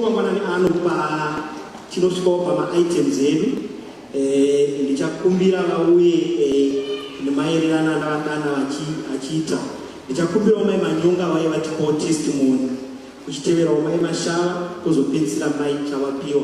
mangwanani ano pachinosvikawo pamaitems edu eh, ndichakumbira vauye eh, nemaererano andavadana achiita ndichakumbirawo mai manyonga vaye vatipawo testimony kuchiteverawo mai mashava kozopedzisira mai chavapiwa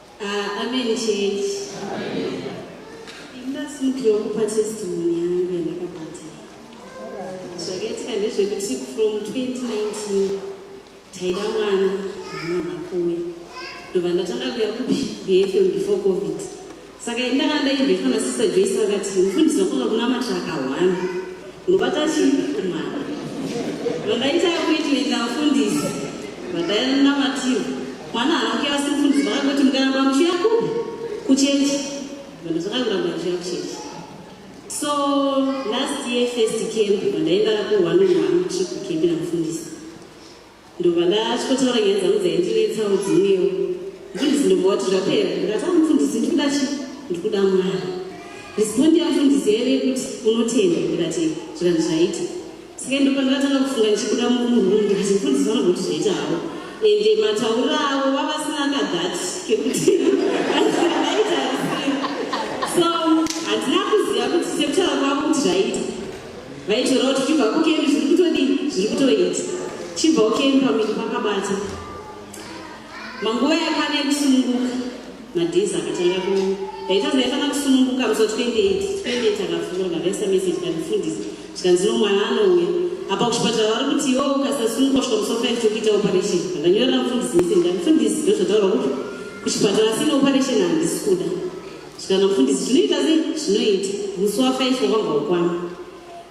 Ah, amen church. Ndinasindiro kupa testimony yangu yandakabata. Zvakaitika ndezvekuti from 2019 taida mwana mwana kuwe. Ndobva ndatanga kuya kupi BFM before COVID. Saka indanga ndaibva na sister Joyce vakati mfundisi wakoka kuna matraka one. Ndobata chi mwana. Vandaita kuitwa ndafundisi. Vadaina mativu. Mwana hake asi mfundisi vakangoti mukaramba muchiuya kupi kuchechi vanhu zvakaramba vachiuya kuchechi so last year first camp vandaenda kuwanonwanu tripu kembi namufundisi ndovandachotaura nyaya dzangu dzaindinetsawo dzimwewo mfundisi ndobva wati zvapera ndikati amufundisi ndikuda chi ndikuda mwana respondi yamufundisi yaive kuti unotenda ndikati zvikanzi zvaita Saka ndipo ndakatanga kufunga ndichibuda mumurundi kuti mfundisi vanogoti zvaita havo ende matauriro avo vavasina kadhati kekuti aita so handina kuziva kuti sekutara kwavo kuti zvaita vaitora kuti chibva kukeni zviri kutodii zviri kutoita chibva ukeni pamiri pakabata Manguva yakana ekusununguka madhizi akatanga ku ndaitadza yaifana kusununguka musi wa 28 28 akafungura ndakaisa message kandifundisi zvikanzi no mwana anouya apa kuchipatara vari kuti iwo ukasasununguka kusvika musi wa 5 tokuita operation ndanyorera mufundisi message ndandifundisi ndozvataura kuti kuchipatara asina operation handisi kuda zvikana mufundisi zvinoita sei zvinoita musi wa 5 wakabva ukwana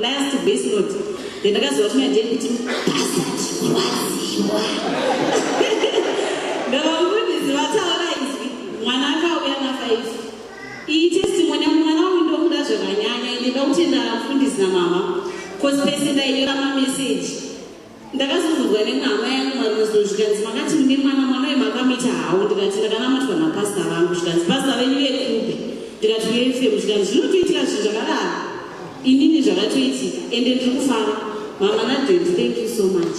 last base note yandakaziva kuti naje kuti pasachiwaziwa ndavamufundisi vataura izwi mwana akauya nafaifi iyi testimony yangu mwana wangu ndokuda zvakanyanya ine ndokuti ndamufundisi namama cause pese ndainyora mameseji ndakazobvunzwa nemwe hama yangu marumezo zvikanzi makati mune mwana mwana uyu makamita hawo ndikati ndakanamatwa napasta vangu zvikanzi pasta venyu vekupi ndikati uefemu zvikanzi zvinotoitika zvinhu zvakadaro inini zvakatoitika ende ndiri kufara mama nadenti thank you so much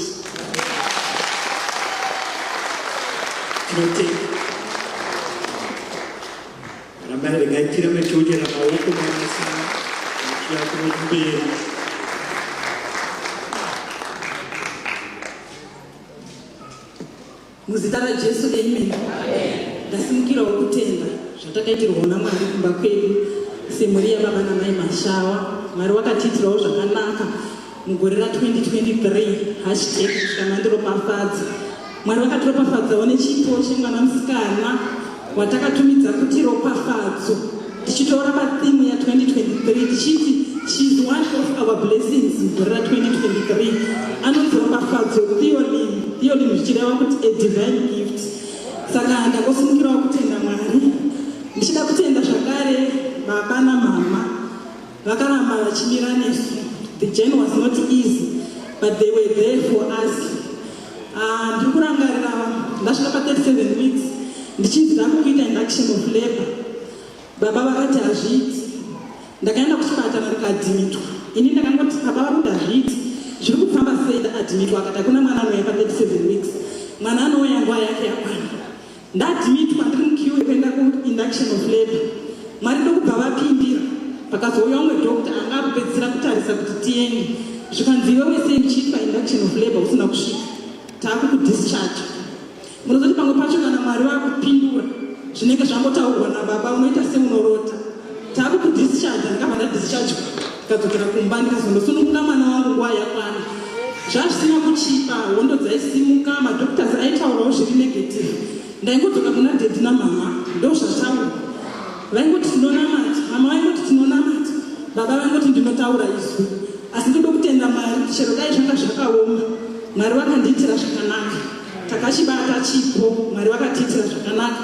Thank you. Rambai regai tirambe tichokera maoko mabasa achiya kumberi. Muzita raJesu, amen. Ndasimukirawo kutenda zvatakaitirwawo naMwari kumba kwedu semhuri yababa namai Mashawa. Mwari wakatiitirawo zvakanaka Mugore ra 2023 hashtag kusvika mandiropafadza Mwari vakatiropafadzawo nechipo chemwana musikana watakatumidza kuti ropafadzo tichitora pathimu ya 2023 tichiti she's one of our blessings mugore ra 2023 anonzi ropafadzo theolim theolim zvichireva kuti a divine gift saka ndakosimukirawo kutenda mwari ndichida kutenda zvakare baba namama Vakaramba vachimira nesu. The journey was not easy but they were there for us. Ah, ndiri kurangarira ndasvika pa 37 weeks ndichinzi ndakukuita induction of labor. Baba vakati hazviiti. Ndakaenda kuchipatara ndikadhimitwa. Ini ndakangoti baba vakuti hazviiti. Zviri kufamba sei ndakadhimitwa akati hakuna mwana anouya pa 37 weeks. Mwana anouya nguva yake yakwana. Ndadmitwa ndiri mukiwe kuenda kuinduction of labor. Mwari ndokubva vapindira. Pakazouya umwe doctor anga akupedzisira kutarisa kuti tiende. Zvikanzi iwe wese uchiri painduction of labor usina kusvika. Takukudischarge. Munozoti pamwe pacho kana Mwari vakupindura zvinenge zvangotaurwa nababa unoita seunorota. Taaku ku discharge ndikabva nda discharge ndikadzokera kumba ndikazonosununguka mwana wangu nguva yakwana zvazvisina kuchipa hondo dzaisimuka madoctors aitaurawo zviri negative ndaingodzoka kuna dedi namama ndozvataura vaingoti tinonamati mama vaingoti tinonamati baba vaingoti ndinotaura izwi asi ndoda kutenda mwari kuti chero dai zvanga zvakaoma mwari vakandiitira zvakanaka takachibata chipo mwari vakatiitira zvakanaka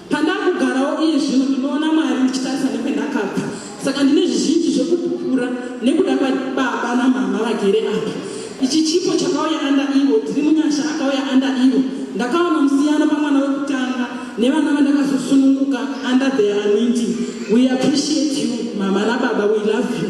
pandakugarawo iye zvino ndinoona mwari ndichitarisa nekwendakabva saka ndine zvizhinji zvekupupura nekuda kwababa namama vagere apa ichi chipo chakauya anda ivo tiri munyasha akauya anda ivo ndakaona musiyano pamwana wekutanga nevana vandakazosununguka under the anointing we appreciate you mama nababa we love you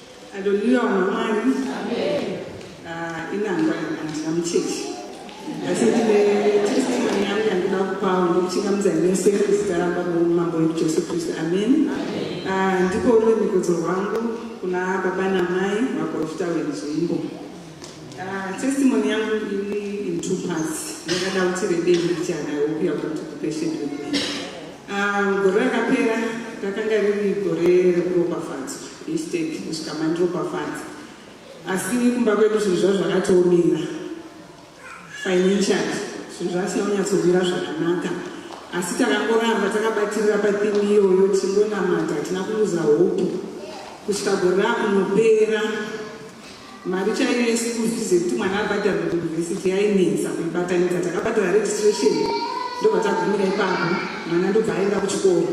Haleluya vanhu vaMwari. Amen. Ah, inangwa handina muchechi. Asi ndine testimony yangu yandinoda kupawo ndokuchingamidza ine seri zita ramba noumambo wedu Jesu Kristu. Amen. Ah, ndiko ruremekedzo rwangu kuna baba namai vaprofita wenzvimbo. Ah, testimony yangu iri in two parts. Ndakada kuti rebe ndichana yokuya kuti kupesheni rebe. Ah, gore rakapera rakanga riri gore rekuropafadzwa. Instead kusvika mandiropafadza asi kumba kwedu zvinhu zvavo zvakatoomira financially zvinhu zvasina kunyatsomira zvakanaka asi takangoramba takabatirira pathimu iyoyo tichingonamata hatina kuuza hope kusvika gore rakunopera mari chaiyo yese kuzvize kuti mwana abhadhara kuuniversity yainetsa kuibatanidza takabhadhara registration ndobva tagumira ipapo mwana ndobva aenda kuchikoro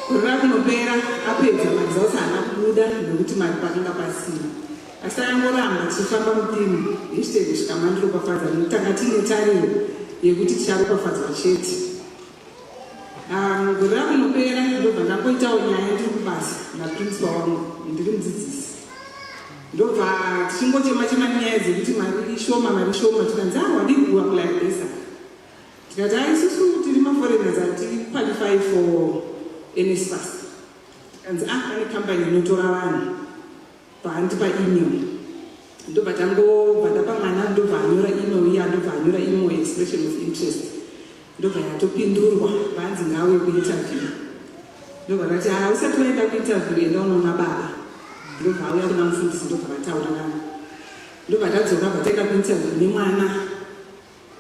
korora kunopera apedza mari dzose haana kubuda nekuti mari pakanga pasina asi takangoramba tichifamba mupimo yechitenge zvikamandiro kwafadza nekutanga tiine tariro yekuti ticharopafadzwa chete Um, gore rakunopera ndobva ndakoitawo nyaya ndiri kubasa naprincipal wangu ndiri mudzidzisi ndobva tichingochema chema nyaya dzekuti mari ishoma mari ishoma tikanzi a ah, wadii kuwa kularibesa tikati a ah, isusu tiri maforeigners hatiqualify for nsfas tikanzi a ah, pane company inotora vanhu Pahanti pa email ndobva tangobva ndapa mwana ndobva anyora email iya ndobva anyora imo expression of interest ndobva yatopindurwa vanzi ngawe kuinterview ndobva vati ha usati vaenda kuinterview enda unoona baba ndobva auya kuna mufundisi ndobva vataura navo ndobva tadzoka bva taenda kuinterview nemwana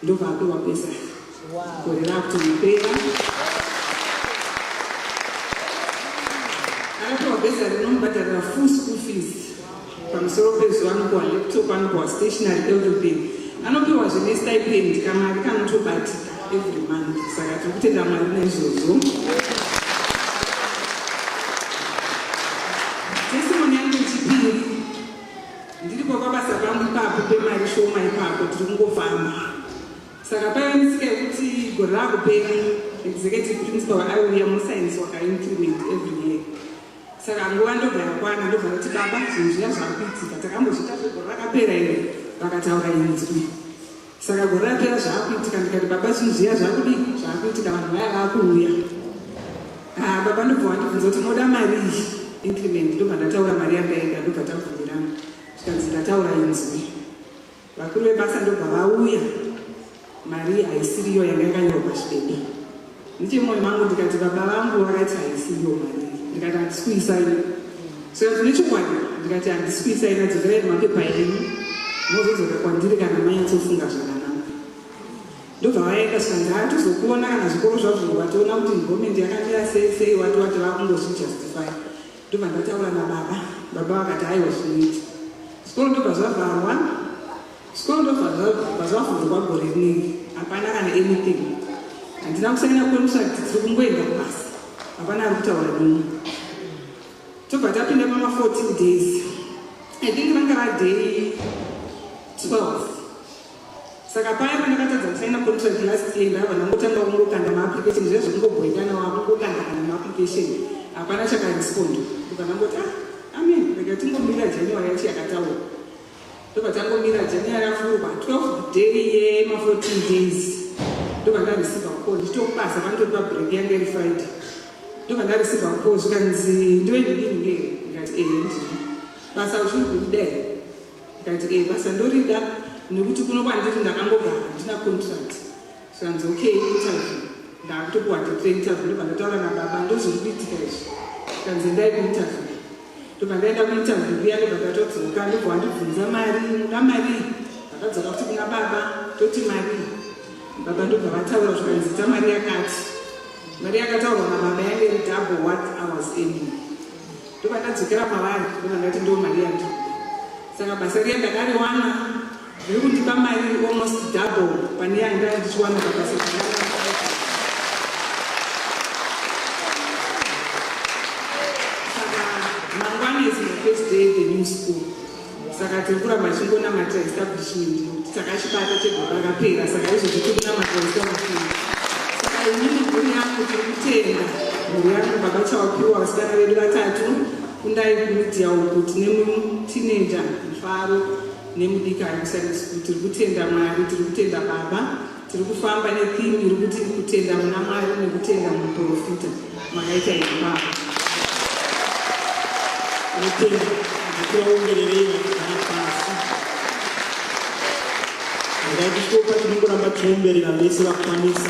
ndobva apiwa pesa gore rakutonopera akapiwa besa rinomubhadharira full school fees pamusoro pezuva anopiwa laptop anopiwa stationary everything anopiwa zvine stipend kamari kanotobatika every month saka tiri kutenda mwari naizvozvo Ndiripo pabasa pangu ipapo pemari shoma ipapo tiri kungofamba. Saka paive nesika yekuti gore rakupera executive principal aiuya musainzi wakaincrement every year. Saka nguva ndobva yakwana ndobva kuti baba zvinhu zviya zvakuitika takambozviita zvegore rakapera iri vakataura inzwi. Saka gore rapera zvaakuitika ndikati baba zvinhu zviya zvaakudii zvaakuitika vanhu vaya vaakuuya ha ah, baba ndobva wandibvunza kuti moda mari iyi increment ndobva ndataura mari yandaida ndobva tabvumirana zvikanzi ndataura inzwi vakuru vebasa ndobva vauya mari haisiriyo yanga yakanyorwa chibebe Ndiye moyo mangu ndikati baba vangu vakati haisi iyo mari ndikati handisikuisai so nechokwadi ndikati handisikuisai nadzokerai nemapepa enyu mozodzoka kwandiri kana maintofunga zvakanaka ndobva vaenda shanzi hatizokuona kana zvikoro zvazvo wationa kuti nhomendi yakamira sei sei wati wati vakungozvijustify ndobva ndataura nababa baba vakati aiwa zvinoita zvikoro ndobva zvavharwa Scondo vazvavhurwa gore rinenge hapana kana anything handina kusanyira kuonisa kuti tiri kungoenda kubasa hapana ari kutaura nini tobva tapinda pama 14 days i think ranga raday 12 saka paya pandakatadza kusaina contract last year ndava ndangotanga kungokanda maapplication zviya zvekungobhoikana wako kukanda kana maapplication hapana chakarespond ukanangoti ah amen rega tingomira january yacho yakataura Ndobva tangomira January yavhurwa 12 day yema 14 days ndobva ndareceiva call ndichitokubasa panditori pabreak yange iri Friday ndobva ndareceiva call zvikanzi ndiwe ndidini nge ndikati ee eh, ndini basa uchiri kurida here ndikati ee eh, basa ndorida nekuti kuno kwandiri ndakangogara handina contract Zvanzi okay interview ndakutokuwa date interview ndobva ndataura nababa ndozviri kuitika izvi kanzi endai kuinterview ndobva ndaenda kuinterview kuya ndobva ndatodzoka ndobva wandibvunza mari unoda mari ndakadzoka kuti kuna baba toti mari baba ndobva vataura zvikanzi ta mari yakati mari yakataurwa nababa yange iri double what i was aiming ndobva ndadzokera pavari ndobva ndati ndo mari yandiri saka basa riya ndakariwana Zviri kundipa mari almost double pane yanga ndichiwana pabasa saka mangwana is my first day the new school saka tiri kuramba tichingonamata establishment saka chibata chegwara rakapera saka izvozvi tiri kunamata establishment saka inini mhuri yangu tiri kutenda mhuri yangu baba chawapiwa vasikana vedu vatatu kundai kumidiya uku tine teenager mfaro nemudikani kusaidi school tiri kutenda mwari tiri kutenda baba tiri kufamba netheme iri kuti kutenda muna mwari nekutenda muprofita makaita iri baba ndaikushopa tinongoramba tiomberera vese vakwanisa